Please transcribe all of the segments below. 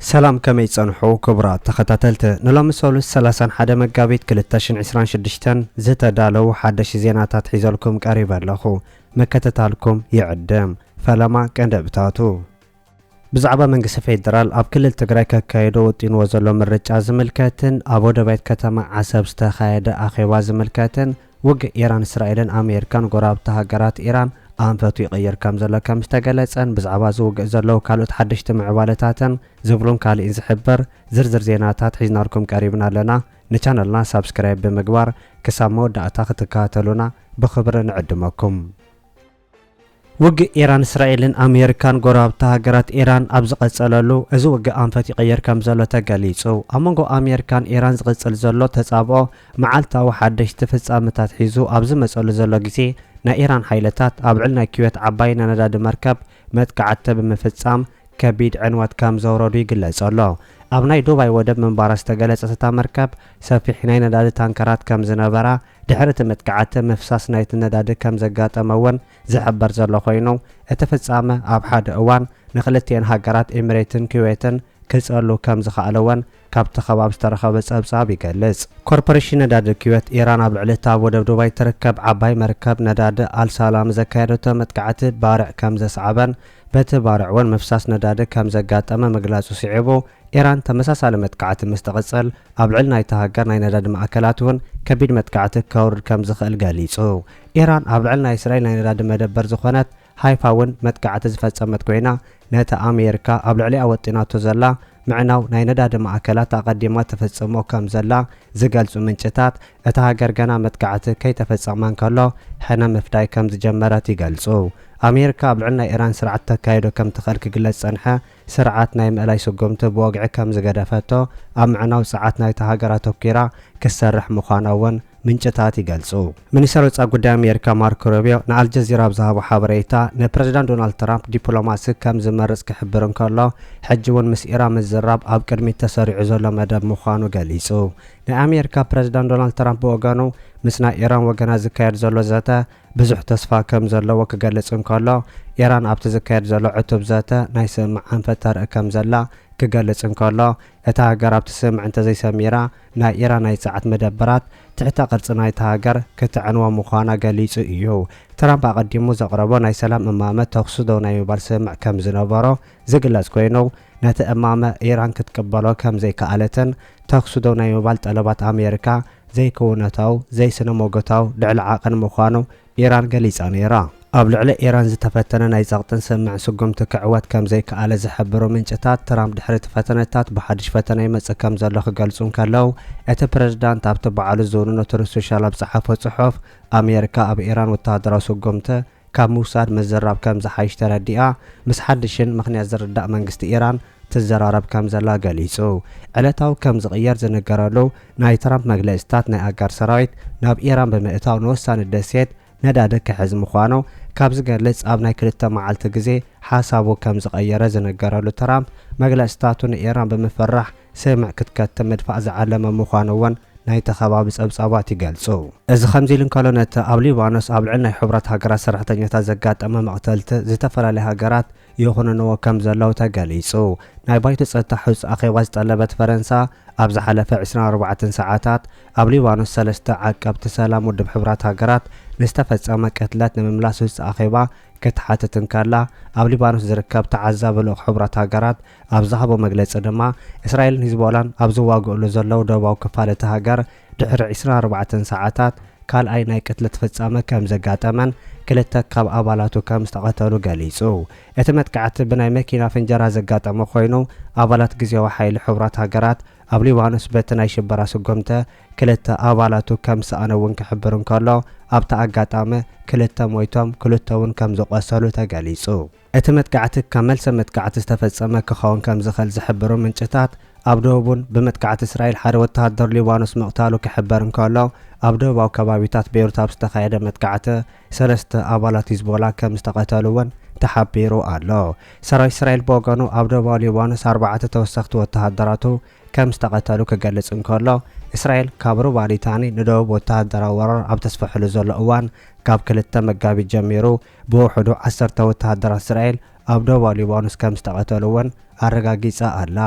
ሰላም ከመይ ጸንሑ ክቡራት ተኸታተልቲ ንሎሚ ሰሉስ ሰላሳን ሓደ መጋቢት ክልተ ሽን ዕስራን ሽዱሽተን ዝተዳለዉ ሓደሽቲ ዜናታት ሒዘልኩም ቀሪበ ኣለኹ ምክትታልኩም ይዕድም ፈለማ ቀንደብታቱ ብዛዕባ መንግስቲ ፌደራል ኣብ ክልል ትግራይ ከካይዶ ወጢንዎ ዘሎ ምርጫ ዝምልከትን ኣብ ወደባይት ከተማ ዓሰብ ዝተኻየደ ኣኼባ ዝምልከትን ውግእ ኢራን እስራኤልን ኣሜሪካን ጎረባብቲ ሃገራት ኢራን ኣንፈቱ ይቕይር ከምዘሎ ከምዝተገለጸን ብዛዕባ እዚ ውግእ ዘለዉ ካልኦት ሓደሽቲ ምዕባለታትን ዝብሉን ካሊእን ዝሕብር ዝርዝር ዜናታት ሒዝናልኩም ቀሪብና ኣለና ንቻነልና ሳብስክራይብ ብምግባር ክሳብ መወዳእታ ክትከታተሉና ብኽብሪ ንዕድመኩም። ውግእ ኢራን እስራኤልን ኣሜሪካን ጎረባብቲ ሃገራት ኢራን ኣብ ዝቐጸለሉ፣ እዚ ውግእ ኣንፈት ይቕይር ከምዘሎ ተገሊጹ። ኣብ መንጎ ኣሜሪካን ኢራን ዝቕጽል ዘሎ ተጻብኦ መዓልታዊ ሓደሽቲ ፍጻመታት ሒዙ ኣብ ዝመጸሉ ዘሎ ግዜ፣ ናይ ኢራን ሓይልታት ኣብ ዕል ናይ ኩዌት ዓባይ ናይ ነዳዲ መርከብ መጥቃዕቲ ብምፍጻም ከቢድ ዕንወት ከምዘውረዱ ይግለጽ ኣሎ። ኣብ ናይ ዱባይ ወደብ ምንባራ ዝተገለጸት እታ መርከብ፣ ሰፊሕ ናይ ነዳዲ ታንከራት ከምዝነበራ ድሕሪ እቲ መጥቃዕቲ ምፍሳስ ናይቲ ነዳዲ ከም ዘጋጠመ እውን ዝሕበር ዘሎ ኮይኑ፣ እቲ ፍጻመ ኣብ ሓደ እዋን ንክልቲኤን ሃገራት ኤሚሬትን ኩዌትን ክጸሉ ከም ዝኸኣለ እውን ካብቲ ከባቢ ዝተረኸበ ጸብጻብ ይገልጽ። ኮርፖሬሽን ነዳዲ ኩዌት፣ ኢራን ኣብ ልዕሊ እቲ ኣብ ወደብ ዱባይ እትርከብ ዓባይ መርከብ ነዳዲ ኣል-ሳላም ዘካየደቶ መጥቃዕቲ ባርዕ ከም ዘስዓበን በቲ ባርዕ እውን ምፍሳስ ነዳዲ ከም ዘጋጠመ ምግላጹ ስዒቡ፣ ኢራን ተመሳሳሊ መጥቃዕቲ ምስ ትቕጽል፣ ኣብ ልዕሊ ናይታ ሃገር ናይ ነዳዲ ማእከላት እውን ከቢድ መጥቃዕቲ ከውርድ ከም ዝኽእል ገሊጹ። ኢራን ኣብ ልዕሊ ናይ እስራኤል ናይ ነዳዲ መደበር ዝኾነት ሃይፋ እውን መጥቃዕቲ ዝፈጸመት ኮይና፣ ነቲ ኣሜሪካ ኣብ ልዕሊኣ ወጢናቶ ዘላ ምዕናው ናይ ነዳዲ ማእከላት ኣቐዲማ ትፍጽሞ ከም ዘላ ዝገልጹ ምንጭታት፣ እታ ሃገር ገና መጥቃዕቲ ከይተፈጸመ እንከሎ ሕነ ምፍዳይ ከም ዝጀመረት ይገልጹ። ኣሜሪካ ኣብ ልዕሊ ናይ ኢራን ስርዓት ተካይዶ ከም ትኽእል ክግለጽ ዝጸንሐ ስርዓት ናይ ምእላይ ስጉምቲ ብወግዒ ከም ዝገደፈቶ ኣብ ምዕናው ጸዓት ናይታ ሃገር ኣተኲራ ክትሰርሕ ምዃና'ውን ምንጭታት ይገልጹ። ሚኒስተር ወጻኢ ጉዳይ ኣሜሪካ ማርኮ ሩቢዮ ንኣልጀዚራ ኣብ ዝሃቦ ሓበሬታ፣ ንፕረዚዳንት ዶናልድ ትራምፕ ዲፕሎማሲ ከም ዝመርጽ ክሕብር እንከሎ፣ ሕጂ'ውን ምስ ኢራን ምዝራብ ኣብ ቅድሚት ተሰሪዑ ዘሎ መደብ ምዃኑ ገሊጹ። ናይ ኣሜሪካ ፕረዚዳንት ዶናልድ ትራምፕ ብወገኑ፣ ምስ ናይ ኢራን ወገናት ዝካየድ ዘሎ ዘተ ብዙሕ ተስፋ ከም ዘለዎ ክገልጽ እንከሎ፣ ኢራን ኣብቲ ዝካየድ ዘሎ ዕቱብ ዘተ ናይ ስምምዕ ኣንፈት ተርኢ ከም ዘላ ክገልጽ እንከሎ፣ እታ ሃገር ኣብቲ ስምምዕ እንተዘይሰሚራ፣ ናይ ኢራን ናይ ጸዓት መደበራት ትሕተ ቅርጺ ናይታ ሃገር ክተዕንዋ ምዃና ገሊጹ እዩ። ትራምፕ ኣቐዲሙ ዘቕረቦ ናይ ሰላም እማመ ተዅሲ ደው ናይ ምባል ስምምዕ ከም ዝነበሮ ዝግለጽ ኰይኑ፣ ነቲ እማመ ኢራን ክትቅበሎ ከም ዘይከኣለትን ተዅሲ ደው ናይ ምባል ጠለባት ኣሜሪካ ዘይክውንነታዊ፣ ዘይስነ-ሞጎታዊ፣ ልዕሊ ዓቐን ምዃኑ ኢራን ገሊጻ ነይራ። ኣብ ልዕሊ ኢራን ዝተፈተነ ናይ ጸቕጥን ስምምዕን ስጉምቲ ክዕወት ከም ዘይከኣለ ዝሕብሩ ምንጭታት፣ ትራምፕ ድሕሪ እቲ ፈተነታት ብሓድሽ ፈተነ ይመጽእ ከም ዘሎ ክገልጹ እንከለው፣ እቲ ፕረዚዳንት ኣብቲ ባዕሉ ዝውንኖ ትሩዝ ሶሻል ኣብ ዝጸሓፎ ጽሑፍ፣ ኣሜሪካ ኣብ ኢራን ወተሃደራዊ ስጉምቲ ካብ ምውሳድ ምዝራብ ከም ዝሓይሽ ተረዲኣ ምስ ሓድሽን ምኽንያት ዝርዳእ መንግስቲ ኢራን ትዘራረብ ከም ዘላ ገሊጹ። ዕለታዊ ከም ዝቕየር ዝንገረሉ ናይ ትራምፕ መግለጺታት ናይ ኣጋር ሰራዊት ናብ ኢራን ብምእታው ንወሳኒ ደሴት ነዳዲ ክሕዝ ምዃኑ ካብ ዝገልጽ ኣብ ናይ ክልተ መዓልቲ ግዜ ሓሳቡ ከም ዝቐየረ ዝንገረሉ ትራምፕ መግለጺታቱ ንኢራን ብምፍራሕ ስምዕ ክትከትም ምድፋእ ዝዓለመ ምዃኑ'ውን ናይቲ ከባቢ ጸብጻባት ይገልጹ። እዚ ከምዚ ኢሉ እንከሎ ነቲ ኣብ ሊባኖስ ኣብ ልዕሊ ናይ ሕቡራት ሃገራት ሰራሕተኛታት ዘጋጠመ መቕተልቲ ዝተፈላለያ ሃገራት ይኹንንዎ ከም ዘለው ተገሊጹ። ናይ ባይቶ ጸጥታ ሕጹ ኣኼባ ዝጠለበት ፈረንሳ፣ ኣብ ዝሓለፈ ዕስራን ኣርባዕተን ሰዓታት፣ ኣብ ሊባኖስ ሰለስተ ዓቀብቲ ሰላም ውድብ ሕቡራት ሃገራት ንዝተፈጸመ ቅትለት ንምምላስ ህጹ ኣኼባ ክትሓትት እንከላ፣ ኣብ ሊባኖስ ዝርከብ ተዓዛቢ ልኡኽ ሕቡራት ሃገራት ኣብ ዝሃቦ መግለጺ ድማ፣ እስራኤልን ሂዝቦላን ኣብ ዝዋግእሉ ዘለው ደቡባዊ ክፋል እታ ሃገር፣ ድሕሪ ዕስራን ኣርባዕተን ሰዓታት ካልኣይ ናይ ቅትለት ፍጻመ ከም ዘጋጠመን ክልተ ካብ ኣባላቱ ከም ዝተቐተሉ ገሊጹ። እቲ መጥቃዕቲ ብናይ መኪና ፍንጀራ ዘጋጠመ ኮይኑ፣ ኣባላት ግዝያዊ ሓይሊ ሕቡራት ሃገራት ኣብ ሊባኖስ በቲ ናይ ሽበራ ስጉምተ ክልተ ኣባላቱ ከም ዝሰኣነ እውን ክሕብር እንከሎ፣ ኣብቲ ኣጋጣሚ ክልተ ሞይቶም ክልተ'ውን ከም ዝቖሰሉ ተገሊጹ። እቲ መጥቃዕቲ ካብ መልሰ መጥቃዕቲ ዝተፈጸመ ክኸውን ከም ዝኽእል ዝሕብሩ ምንጭታት፣ ኣብ ደቡብ'ውን ብመጥቃዕቲ እስራኤል ሓደ ወተሃደር ሊባኖስ ምቕታሉ ክሕበር እንከሎ፣ ኣብ ደቡባዊ ከባቢታት ቤይሩት ኣብ ዝተኻየደ መጥቃዕቲ ሰለስተ ኣባላት ሂዝቦላ ከም ዝተቐተሉ'ውን ተሓቢሩ ኣሎ። ሰራዊት እስራኤል ብወገኑ ኣብ ደቡባዊ ሊባኖስ ኣርባዕተ ተወሰኽቲ ወተሃደራቱ ከም ዝተቐተሉ ክገልጽ እንከሎ፣ እስራኤል ካብ ሩባ ሊታኒ ንደቡብ ወተሃደራዊ ወራር ኣብ ተስፍሕሉ ዘሎ እዋን ካብ ክልተ መጋቢት ጀሚሩ ብውሕዱ ዓሰርተ ወተሃደራት እስራኤል ኣብ ደቡባዊ ሊባኖስ ከም ዝተቐተሉ'ውን ኣረጋጊጻ ኣላ።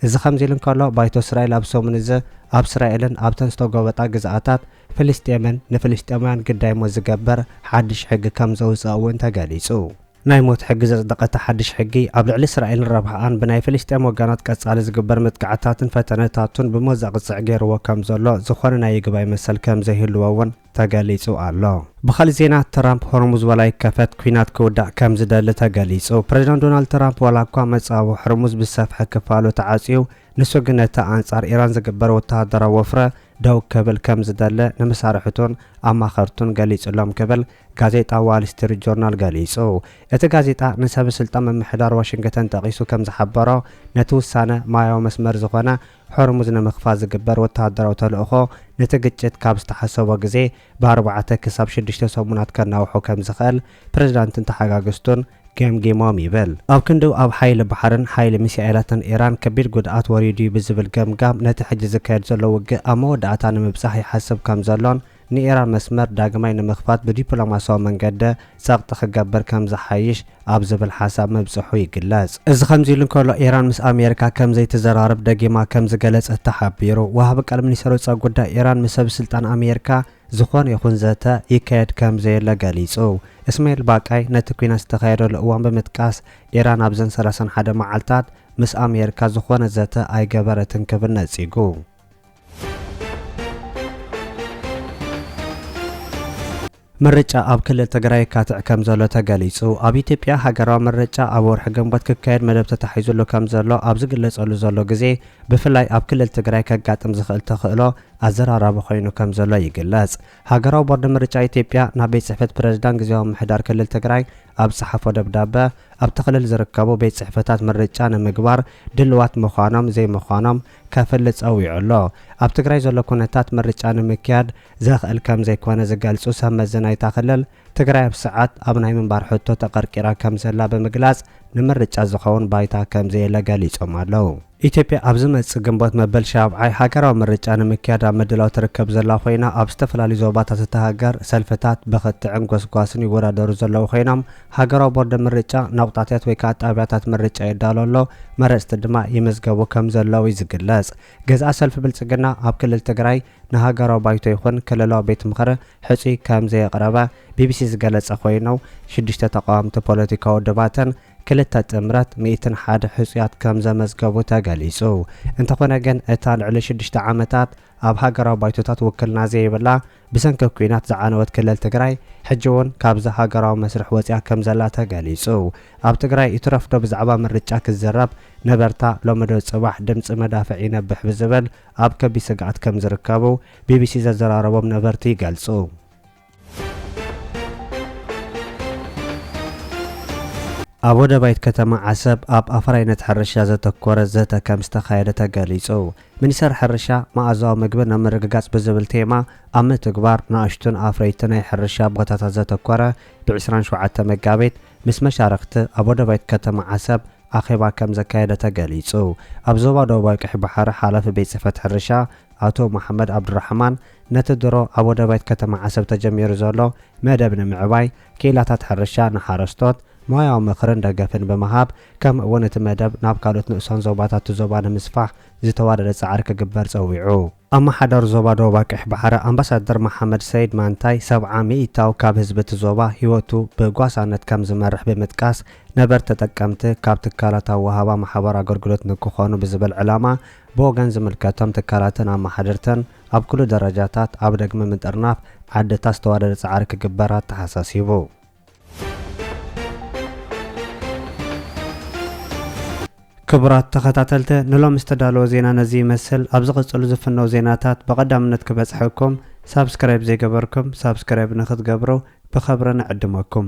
እዚ ከምዚ'ሉ እንከሎ፣ ባይቶ እስራኤል ኣብዚ ሰሙን እዚ ኣብ እስራኤልን ኣብተን ዝተጎበጣ ግዝኣታት ፍልስጤምን ንፍልስጤማውያን ግዳይ ሞት ዝገብር ሓድሽ ሕጊ ከም ዘውጽኣ'ውን ተገሊጹ። ናይ ሞት ሕጊ ዘጽደቐ እቲ ሓድሽ ሕጊ፣ ኣብ ልዕሊ እስራኤልን ረብሕኣን ብናይ ፍልስጤም ወገናት ቀጻሊ ዝግበር መጥቃዕትታትን ፈተነታቱን ብሞት ዘቕጽዕ ገይርዎ ከም ዘሎ፣ ዝኾነ ናይ ይግባይ መሰል ከም ዘይህልዎ'ውን፣ ተገሊጹ ኣሎ። ብኻሊእ ዜና ትራምፕ ሆርሙዝ ዋላ ይከፈት ኲናት ክውዳእ ከም ዝደሊ ተገሊጹ። ፕረዚዳንት ዶናልድ ትራምፕ ዋላ እኳ መጻብቦ ሆርሙዝ ብዝሰፍሐ ክፋሉ ተዓጽዩ ንሱ ግን ነቲ ኣንጻር ኢራን ዝግበር ወተሃደራዊ ወፍረ ደው ክብል ከም ዝደሊ ንመሳርሕቱን ኣማኸርቱን ገሊጹሎም ክብል ጋዜጣ ዋል ስትሪት ጆርናል ገሊጹ። እቲ ጋዜጣ ንሰበስልጣን ምምሕዳር ዋሽንግተን ጠቒሱ ከም ዝሓበሮ ነቲ ውሳነ ማያዊ መስመር ዝኾነ ሆርሙዝ ንምኽፋት ዝግበር ወተሃደራዊ ተልእኾ ነቲ ግጭት ካብ ዝተሓሰቦ ግዜ ብኣርባዕተ ክሳብ ሽዱሽተ ሰሙናት ከናውሖ ከም ዝኽእል ፕሬዝዳንትን ተሓጋገዝቱን ገምጊሞም ይብል። ኣብ ክንድኡ ኣብ ሓይሊ ባሕርን ሓይሊ ሚሳኤላትን ኢራን ከቢድ ጉድኣት ወሪዱ'ዩ ብዝብል ገምጋም ነቲ ሕጂ ዝካየድ ዘሎ ውግእ ኣብ መወዳእታ ንምብጻሕ ይሓስብ ከም ዘሎን ንኢራን መስመር ዳግማይ ንምኽፋት ብዲፕሎማስያዊ መንገዲ ጸቕጢ ክገብር ከም ዝሓይሽ ኣብ ዝብል ሓሳብ ምብጽሑ ይግለጽ። እዚ ከምዚ'ሉ እንከሎ፣ ኢራን ምስ ኣሜሪካ ከም ዘይትዘራረብ ደጊማ ከም ዝገለጸት ተሓቢሩ። ወሃቢ ቃል ሚኒስተር ወጻኢ ጉዳይ ኢራን ምስ ሰብስልጣን ኣሜሪካ ዝኾነ ይኹን ዘተ ይካየድ ከም ዘየለ ገሊጹ። እስማኤል ባቃይ ነቲ ኲናት ዝተኻየደሉ እዋን ብምጥቃስ፣ ኢራን ኣብዘን ሰላሳን ሓደ መዓልታት ምስ ኣሜሪካ ዝኾነ ዘተ ኣይገበረትን ክብል ነጺጉ። ምርጫ ኣብ ክልል ትግራይ የካትዕ ከም ዘሎ ተገሊጹ። ኣብ ኢትዮጵያ ሃገራዊ ምርጫ ኣብ ወርሒ ግንቦት ክካየድ መደብ ተታሒዙሉ ከም ዘሎ ኣብ ዝግለጸሉ ዘሎ ግዜ ብፍላይ ኣብ ክልል ትግራይ ከጋጥም ዝኽእል ተኽእሎ ኣዘራራቢ ኮይኑ ከም ዘሎ ይግለጽ። ሃገራዊ ቦርድ ምርጫ ኢትዮጵያ ናብ ቤት ጽሕፈት ፕረዚዳንት ግዜያዊ ምምሕዳር ክልል ትግራይ ኣብ ዝጸሓፎ ደብዳበ ኣብቲ ክልል ዝርከቡ ቤት ጽሕፈታት ምርጫ ንምግባር ድልዋት ምዃኖም ዘይምዃኖም ከፍል ጸዊዑ ኣሎ። ኣብ ትግራይ ዘሎ ኩነታት ምርጫ ንምክያድ ዘኽእል ከምዘይኮነ ዝገልጹ ሰብ መዚ ናይታ ክልል፣ ትግራይ ኣብ ስዓት ኣብ ናይ ምንባር ሕቶ ተቐርቂራ ከምዘላ ብምግላጽ ንምርጫ ዝኸውን ባይታ ከምዘየለ ገሊጾም ኣለው። ኢትዮጵያ ኣብ ዝመጽእ ግንቦት መበል ሻብዓይ ሃገራዊ ምርጫ ንምክያድ ኣብ ምድላው ትርከብ ዘላ ኮይና፣ ኣብ ዝተፈላለዩ ዞባታት እታ ሃገር ሰልፍታት ብክትዕን ጎስጓስን ይወዳደሩ ዘለው ኮይኖም፣ ሃገራዊ ቦርደ ምርጫ ናቑጣትት ወይ ከኣ ጣብያታት ምርጫ የዳሎ ኣሎ፣ መረጽቲ ድማ ይምዝገቡ ከምዘለዉ'ዩ ዝግለጽ። ገዛኢ ሰልፊ ብልጽግና ኣብ ክልል ትግራይ ንሃገራዊ ባይቶ ይኹን ክልላዊ ቤት ምኽሪ ሕጹይ ከምዘየቕረበ ቢቢሲ ዝገለጸ ኮይኑ፣ ሽዱሽተ ተቓወምቲ ፖለቲካዊ ውድባትን ክልተ ጥምረት ሚእትን ሓደ ሕጹያት ከምዘመዝገቡ ተገሊጹ። እንተኾነ ግን እታ ልዕሊ ሽዱሽተ ዓመታት ኣብ ሃገራዊ ባይቶታት ውክልና ዘይብላ ብሰንኪ ኲናት ዝዓነወት ክልል ትግራይ ሕጂ እውን ካብዚ ሃገራዊ መስርሕ ወፂኣ ከም ዘላ ተገሊፁ። ኣብ ትግራይ ይትረፍ ዶ ብዛዕባ ምርጫ ክዝረብ ነበርታ ሎሚ ዶ ፅባሕ ድምፂ መዳፍዕ ይነብሕ ብዝብል ኣብ ከቢድ ስግኣት ከም ዝርከቡ ቢቢሲ ዘዘራረቦም ነበርቲ ይገልፁ። ኣብ ወደባይት ከተማ ዓሰብ ኣብ ኣፍራይነት ሕርሻ ዘተኮረ ዘተ ከምዝተኻየደ ተገሊፁ። ሚኒስቴር ሕርሻ መኣዛዊ ምግቢ ናብ ምርግጋፅ ብዝብል ቴማ ኣብ ምትግባር ንኣሽቱን ኣፍረይቲ ናይ ሕርሻ ቦታታት ዘተኮረ ብ ዕስራን ሸውዓተን መጋቢት ምስ መሻርኽቲ ኣብ ወደባይት ከተማ ዓሰብ ኣኼባ ከምዘካየደ ተገሊፁ። ኣብ ዞባ ደቡባዊ ቀይሕ ባሕሪ ሓላፊ ቤት ፅሕፈት ሕርሻ ኣቶ መሓመድ ኣብዱራሕማን ነቲ ድሮ ኣብ ወደባይት ከተማ ዓሰብ ተጀሚሩ ዘሎ መደብ ንምዕባይ፣ ክኢላታት ሕርሻ ንሓረስቶት ሞያዊ ምኽርን ደገፍን ብምሃብ፣ ከምኡ እውን እቲ መደብ ናብ ካልኦት ንኡሳን ዞባታት እቲ ዞባ ንምስፋሕ ዝተዋደደ ፃዕሪ ክግበር ፀዊዑ። ኣመሓዳሪ ዞባ ደቡብ ኣቅይሕ ባሕሪ ኣምባሳደር መሓመድ ሰይድ ማንታይ፣ ሰብዓ ሚኢታዊ ካብ ህዝቢ እቲ ዞባ ህይወቱ ብጓሳነት ከም ዝመርሕ ብምጥቃስ፣ ነበርቲ ተጠቀምቲ ካብ ትካላት ኣወሃባ ማሕበራዊ ኣገልግሎት ንክኾኑ ብዝብል ዕላማ ብወገን ዝምልከቶም ትካላትን ኣመሓደርትን ኣብ ኩሉ ደረጃታት ኣብ ደግሚ ምጥርናፍ ዓድታት ዝተዋደደ ፃዕሪ ክግበር ኣተሓሳሲቡ። ክቡራት ተኸታተልቲ ንሎሚ ዝተዳለወ ዜና ነዚ ይመስል። ኣብ ዝቕፅሉ ዝፍነው ዜናታት ብቐዳምነት ክበፅሐኩም ሳብስክራይብ ዘይገበርኩም ሳብስክራይብ ንክትገብሩ ብኸብሪ ንዕድመኩም።